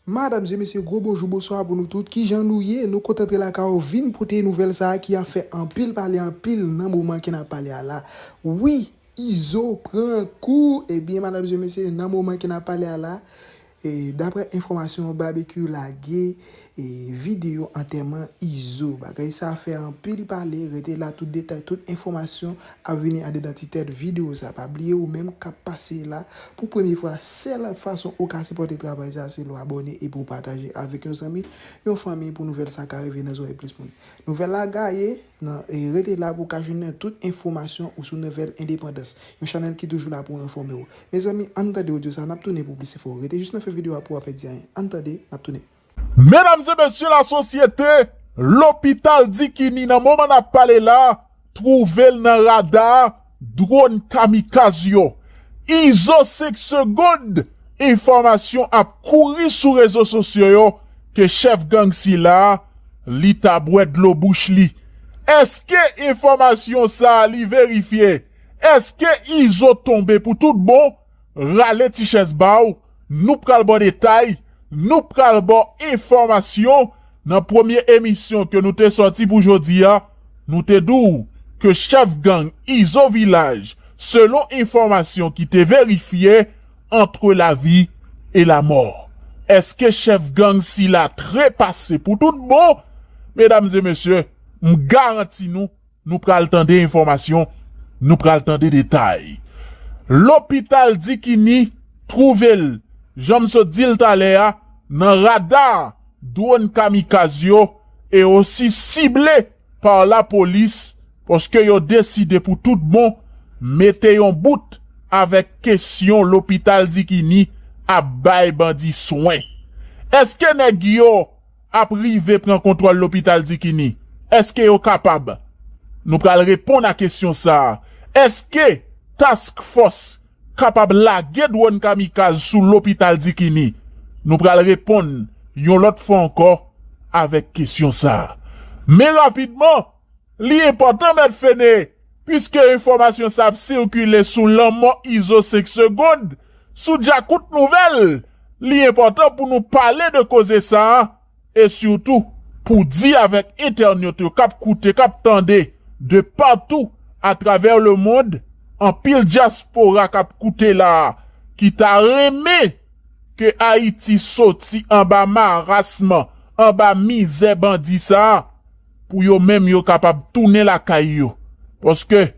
Madam se mesye gwo bonjou bonswa pou nou tout kijan nou ye nou kontan antre lakay ou vin pote nouvèl sa ki ap fè anpil pale anpil nan moman ke nap pale a la wi izo pran kou ebyen madam se mesye nan moman ke nap pale a la e daprè enfòmasyon babekyou lage e video antèman izo bagay sa fè anpil pale rete la tout detay tout enfòmasyon ap vini andedan ti tèt video sa pa bliye ou menm kap pase la pou premye fwa sèl fason ou ka sipòte travay sa se lè w abòne epi ou pataje avèk yon zanmi yon fanmi pou nouvèl sa ka rive nan zòrèy plis moun nouvèl la gaye nan rete la pou ka jounen tout enfomasyon ou sou nouvèl endepandans yon chanèl ki toujou la pou enfòme w mezanmi ann tande odyo sa nap tounen pou plis enfo rete jis nan fen video a pou w pa pèdi anyen ann tande nap tounen. Medam e mesye la sosyete, lopital Dikini nan moman n ap pale la twouve l nan rada dwòn kamikaz yo. Izo 5 segond, enfòmasyon ap kouri sou rezo sosyo yo ke chèf gang sila li ta bwè dlo bouch li. Eske enfòmasyon sa li verifye? Eske Izo tonbe pou tout bon? Rale ti chèz ba w. Nou pral ba w detay, nou pral ba w enfòmasyon, nan premye emisyon ke nou te sòti pou jodi a, nou te di w ke chèf gang Izo Vilaj selon enfòmasyon ki te verifye antre lavi e lamò. Eske chèf gang sila trepase pou tout bon? Medam e mesye, m garanti nou. Nou pral tande enfòmasyon, nou pral tande detay. Lopital Dikini twouve l, jan m sot di l talè a, nan rada dwòn kamikaz yo e osi sible pa lapolis paske yo deside pou tout bon mete yon bout avèk kesyon lopital Dikini ap bay bandi swen. Eske nèg yo ap rive pran kontwòl lopital Dikini? Èske yo kapab? Nou pral reponn a kesyon sa a. Èske Task Force kapab lage dwòn kamikaz sou lopital Dikini? Nou pral reponn yon lòt fwa ankò avèk kesyon sa a. Men rapidman, Li enpòtan mèt Fene, piske enfòmasyon sa ap sikile sou lanmò Izo 5 segond, sou djakout nouvèl, li enpòtan pou nou pale de koze sa, e sitou pou di avèk entènot yo k ap koute, k ap tande de patou atravè lemond, anpil dyaspora k ap koute la a, ki ta renmen ke Ayiti soti anba marasm, anba mizè bandi sa. Pou yo menm yo kapab tounen lakay yo. Paske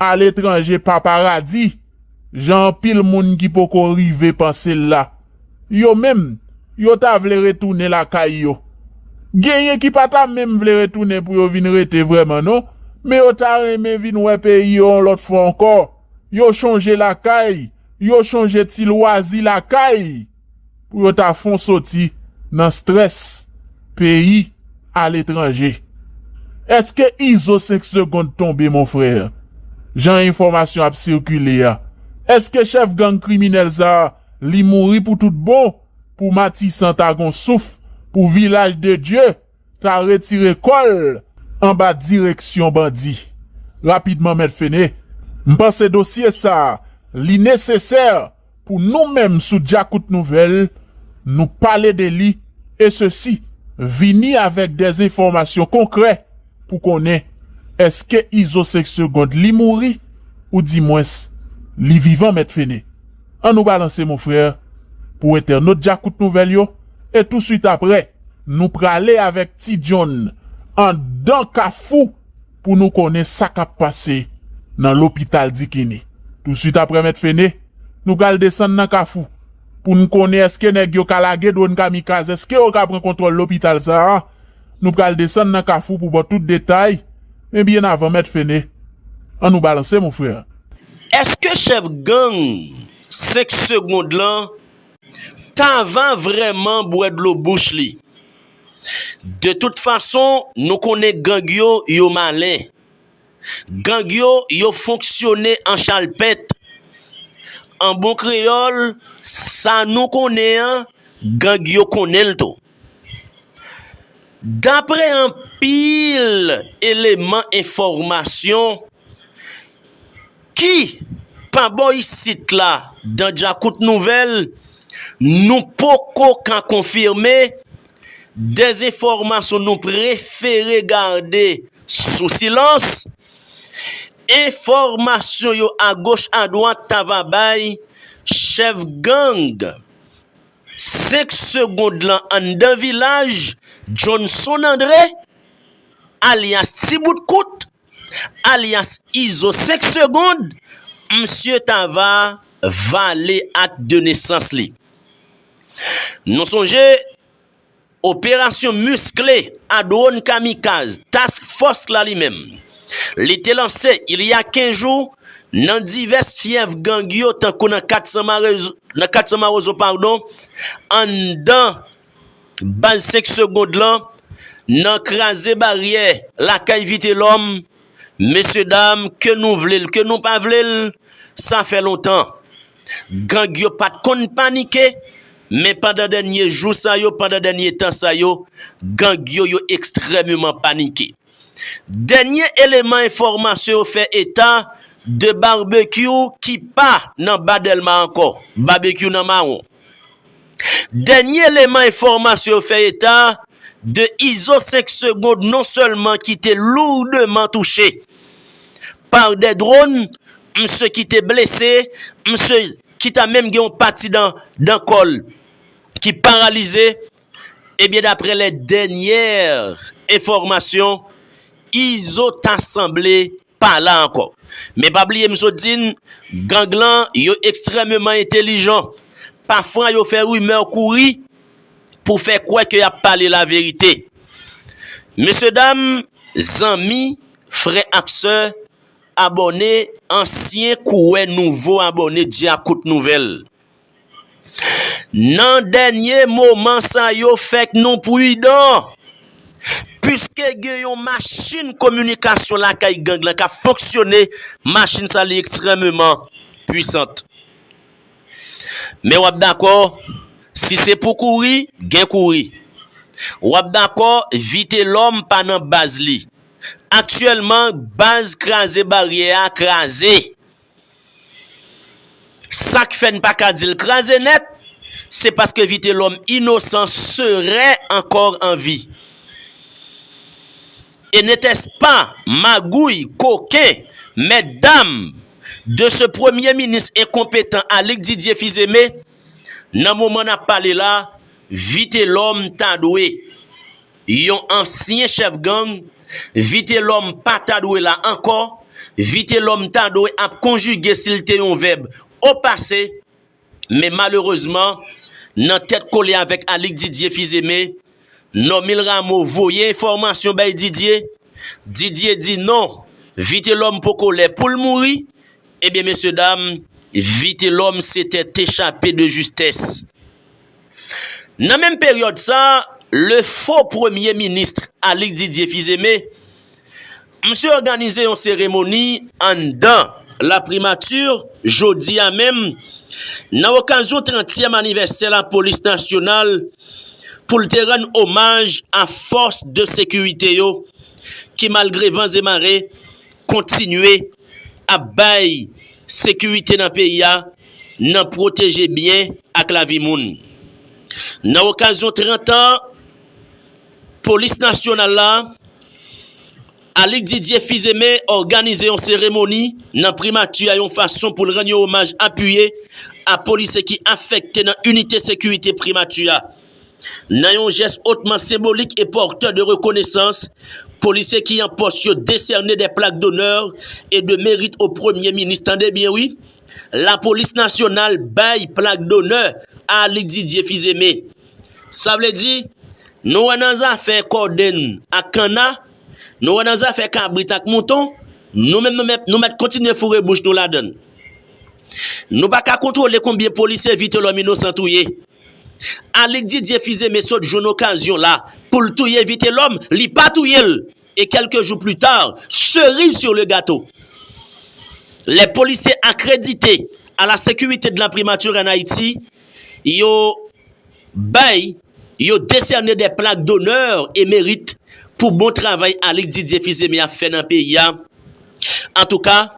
aletranje pa paradi, jan anpil moun ki poko rive panse l la. Yo menm, yo ta vle retounen lakay yo. Genyen ki pa ta menm vle retounen pou yo vin rete vrèman non, men yo ta renmen vin wè peyi yo yon lòt fwa ankò. Yo chonje lakay, yo chonje ti lwazi lakay. Pou yo ta fon soti nan stress peyi a letranje. Eske izo 5 segond tonbe mon frère? Jan enfòmasyon ap sikile a eske chèf gang kriminèl sa li mouri pou tout bon pou matisan ta gon souf pou vilaj de Dye ta retire kòl anba direksyon bandi rapidman mèt Fene? M panse dosye sa li nesesè Pou nou menm sou Djakout Nouvèl, nou pale de li e sesi, vini avèk dè enfòmasyon konkrè pou konnen eske Izo 5 segond li mouri ou di mwens li vivan mèt Fene. An nou balanse mon frère pou entènot Djakout Nouvèl yo e touswit aprè nou prale avèk Ti John andan kafou pou nou konnen sa k ap pase nan lopital Dikini. Tousuit aprè Mèt Fene, nou pral desann nan Kafou pou n konnen èske nèg yo ka lage dwòn kamikaz, èske yo ka pran kontwòl lopital sa a. Nou pral desann nan Kafou pou ba w tout detay, men byen avan Mèt Fene, an nou balanse mon frère. Èske chèf gang 5 segond lan ta va vrèman bwè dlo bouch li? De tout fason nou konnen gang yo yo malen gang yo yo fonksyone an chalpèt an bon kreyòl sa nou konnen an gang yo konnen l tou daprè anpil eleman enfòmasyon Ki? Pa bò isit la, dan djakout nouvèl nou poko ka konfime, dezenfòmasyon nou prefere gade sou silans, enfòmasyon yo agoch adwat ta va bay chèf gang 5 segond lan anndan vilaj, Johnson André alyas Ti bout kout. Alyas Izo 5 segond, msye ta va vale ak de nesans li. Nou sonje operasyon miskle a dwòn kamikaz Task Force la li menm, li te lanse il y a 15 jou nan divès fyèf gang yo tankou nan 400 mawozo pardon anndan Baz 5 segond lan nan kraze baryè lakay Vitelòm, mesye dam ke nou vle l ke nou pa vle l sa fè lontan gang yo pat konn panike men pandan dènye jou sa yo pandan dènye tan sa yo gang yo yo ekstrèmeman panike. Dènye eleman enfòmasyon yo fè eta de Barbecue ki pa nan Ba Dèlma ankò, Barbecue nan Mawon. Dènye eleman enfòmasyon yo fè eta de Izo 5 Segond non sèlman ki te lourdeman touche pa de dronn, msye ki te blese, msye ki ta menm gen yon pati dan kò l ki paralize Ebyen daprè lè dènyè enfòmasyon Izo ta sanble pa la ankò. Men pa bliye m sot di n gang lan yo ekstrèmeman entelijan. Pafwa yo fè rimè kouri pou fè kwè ke y ap pale laverite. Mesye dam, zanmi, frè ak sè, abòne, ansyen kouwè nouvo abòne Dyakout Nouvèl. Nan dènye moman sa yo fèk nou pridan piske gen yon machin kominikasyon lakay gang lan k ap fonksyone, machin sa li ekstrèmeman pwisant. Men w ap dakò, si se pou kouri, gen kouri. W ap dakò, Vitelòm pa nan baz li. Aktyèlman, baz Kraze Baryè a kraze. Sak fè n pa ka di l kraze nèt, se paske Vitelòm inosan seren ankò an vi. E netèspa magouy, koken, mèt dam de se premye minis enkonpetan Alig Didye Fizeme, nan moman n ap pale la, Vitelòm ta dwe. Yon ansyen chèf gang, Vitelòm pa ta dwe la ankò, Vitelòm ta dwe ap konjige si l te yon vèb opase, men malerezman, nan tèt kole avèk Alix Didier Fils-Aimé, Normil Rameau voye enfòmasyon bay Didier, Didier di non, Vitelòm poko lè pou l mouri, ebyen mesye dam, Vitelòm se tèt echape de justès. Nan menm peryòd sa, le fo premye minist Alix Didier Fils-Aimé, msye òganize yon seremoni anndan laprimati jodi a menm nan okazyon trantyèm anivèsè lapolis nasyonal pou l te rann omaj a fòs de sekirite yo ki malgre van e mare kontinye ap bay sekirite nan peyi a nan pwoteje byen ak lavi moun. Nan okazyon 30 an Polis Nasyonal la, Alix Didier Fils-Aimé òganize yon seremoni nan Primati a yon fason pou l rann yon omaj apiye a polisye ki afekte nan inite sekirite Primati a. Nan yon jès otman senbolik e porteur de reconnaissance, polisye ki an pòs yo desène des plaques d'honneur et de mérite au Premye Minis, tande byen wi, Lapolis Nasyonal bay plak donè a Aly Didier Fils-Aimé. Sa vle di, nou wè nan zafè kodenn ak kanna, nou wè nan zafè kabrit ak mouton, nou menm nou mèt kontinye foure bouch nou ladann. Nou pa ka kontwole konbyen polisye Vitelhomme Innocent touye. Alyk Didier Fils-Aimé sot jwenn okazyon la pou l touye Vitelòm, li pa touye l e kèlke jou pli ta, seriz sur le gato, lè polisye akredite a la securite de la primature en Haïti yo bay, yo desène dè plak d'honneur et mérite pou bon travay Alyk Didier Fils-Aimé ap fè nan peyi a, antouka.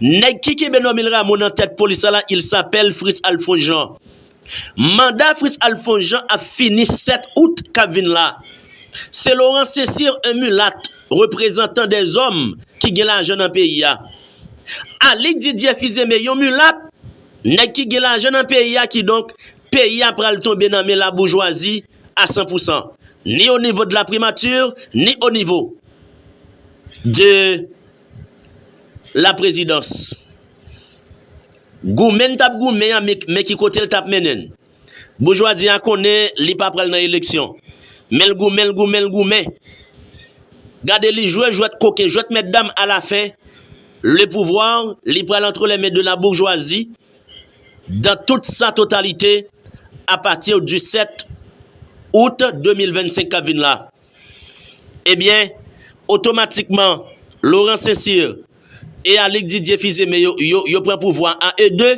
Nèg ki kenbe Normil Rameau nan tèt polis la la il sapèl Fritz Alphonse Jean. Manda Fritz Alphonse Jean ap fini 7 out kap vin la. Se Laurent Cesir un mulat reprezantan dè zòm ki gen lajan nan peyi a. Alix Didier Fils-Aimé yon mulat nèg ki gen lajan nan peyi a kidonk peyi a pral tonbe nan men la boujwazi a san pou san ni o nivo de la primature ni o nivo de la prezidans. Goumen n t ap goumen an, men ki kote l t ap mennen n. Boujwazi a konnen li pa pral nan eleksyon. Men l goumen, l goumen, l goumen. Gade li jwe jwèt koken, jwèt mètdam alafen, le pouvoir li pral antre les mains de la bourgeoisie dans toute sa totalité à partir du 7 Out 2025 k ap vin la. Ebyen, otomatikman, Laurent Cécile e Alick Didier Fils-Aimé yo pran pouvwa a e de,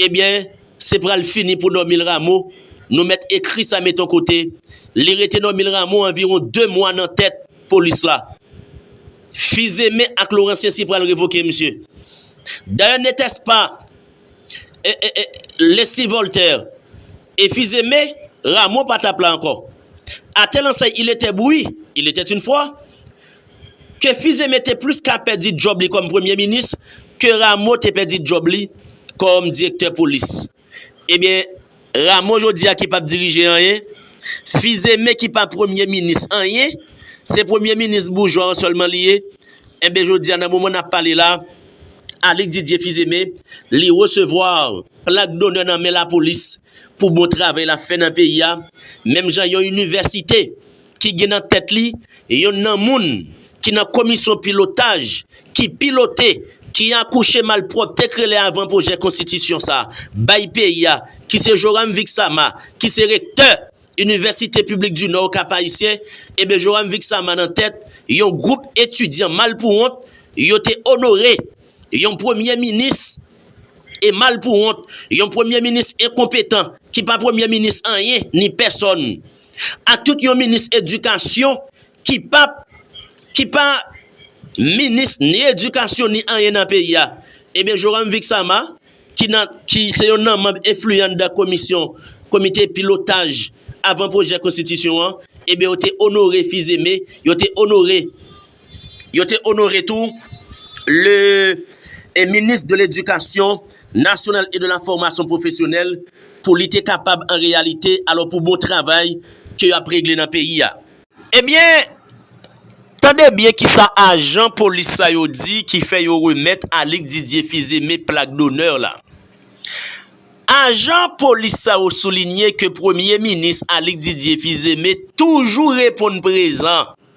ebyen, se pral fini pou Normil Rameau, nou mèt ekri sa met on kote, li rete Normil Rameau anviwon 2 mwa nan tèt polis la. Fils-Aimé ak Laurent Cécile pral revoke misye. Dayè netèspa. Leslie Voltaire e fils aimé Rameau pa tap la ankò A tel ensèy il était bouyi, il était une fwa, ke fils aimé te plis ka pèdi djòb li kòm premye minis ke Rameau te pèdi djòb li kòm direktè polis Ebyen Ramo jodi a ki pap dirije anyen, Fizeme ki pa premye minis anyen, se premye minis boujwa an sèlman li ye, enben jodi a nan moman nap pale la, Alix Didier Fizeme li resevwa plak donè nan men lapolis pou bon travay lap fè nan peyi a, menm jan yon inivèsite. ki gen nan tèt li yonn nan moun ki nan komisyon pilotaj ki pilote, ki akouche malpwòpte k rele avan pwojè konstitisyon sa bay peyi a, ki se Joram Vixama, ki se rektè Inivèsite Piblik di Nò Okap Ayisyen, eben Joram Vixama nan tèt yon gwoup etidyan mal pou wont, yo te onore yon premye minis e mal pou wont, yon premye minis enkonpetan ki pa premye minis anyen ni pèsòn. Ak tout yon minis edikasyon ki pa ki pa minis ni edikasyon ni anyen nan peyi a. Ebyen Joram Vixama ki nan ki se yon nan manb enfliyan anndan komisyon komite pilotaj avan pwojè konstitisyon an, ebyen yo te onore Fizeme, yo te onore Yo te onore tou le Minis de Ledikasyon Nasyonal e de la Fòmasyon Pwofesyonèl pou li te kapab an reyalite alò pou bon travay ke yo ap regle nan peyi a. Ebyen, tande byen kisa ajan polis sa yo di ki fè yo remèt Alix Didier Fils-Aimé plak donè la. Ajan polis sa yo soulinye ke Premye Minis Alix Didier Fils-Aimé toujou reponn prezan.